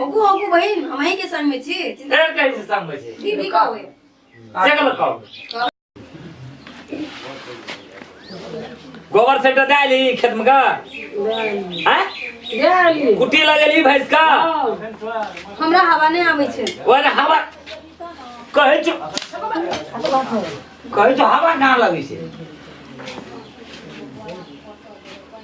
ओगु ओगु बहिन हम अहीं के संग में छी फेर कहीं से संग में छी दीदी का होय देख लो कहो गोबर सेट दे ली खेत में का हैं गेली कुटी लगेली भैंस का हमरा हवा नहीं आवे छे ओए रे हवा कहै छ कहै छ हवा ना लगै छै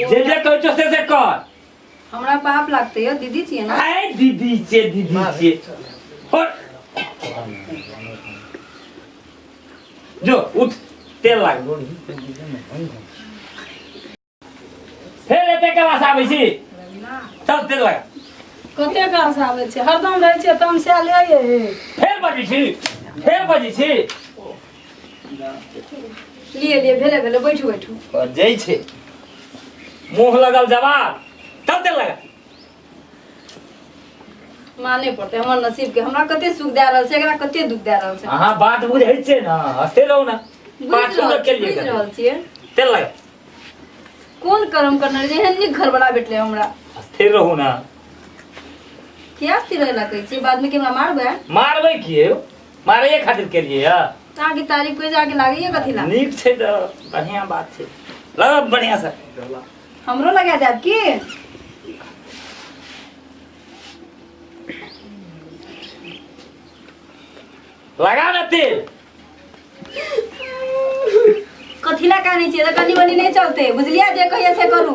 जे जे कहै छौ से से कर हमरा पाप लागते यो दीदी छिए ना आए दीदी छे दीदी छे हट जो उठ तेल लाग फेर एते क्लास आबै छी चल तेल लाग कते गास आबै छै हरदम रहै छै तमसा ले ये फेर बजै छी फेर बजै छी लिए लिए भेले भेले बैठू बैठू और जय छे मुंह लगल जवाब तब ते लगा माने पड़ते हमर नसीब के हमरा कते सुख दे रहल छै एकरा कते दुख दे रहल छै अहाँ बात बुझै छे ना हस्ते रहू ना बुझि पाछू रहल लोग के लिए बुझि रहल छियै ते लगा कोन कर्म करने जे एहन नीक घरवाला भेटले हमरा हस्ते रहू ना क्या स्थिर रहला कहै छियै बाद में के हमरा मारबै मारबै किए मारैए खातिर केलियै यऽ अहाँ के तारीफ करे जाके लागे ये कथी ला नीक छै तऽ बढ़िआँ बात छै लग बढ़िआँ से हमरो लगा जाब की लगा ने तेल कथी ला काने छियै तऽ कनी मनी नहि चलते बुझलियै जे कहिया से करू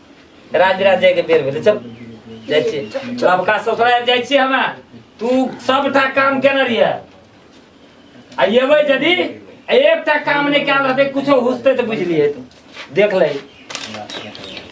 राज राज जायके बेर भेलै चल जाइ छियै सबका ससुराल जाइ छियै हमे तू सबटा काम केने रहिए आ एबै यदि एकटा काम नहि कयल रहतै कुछो हुसतै तऽ बुझलियै तू देख लही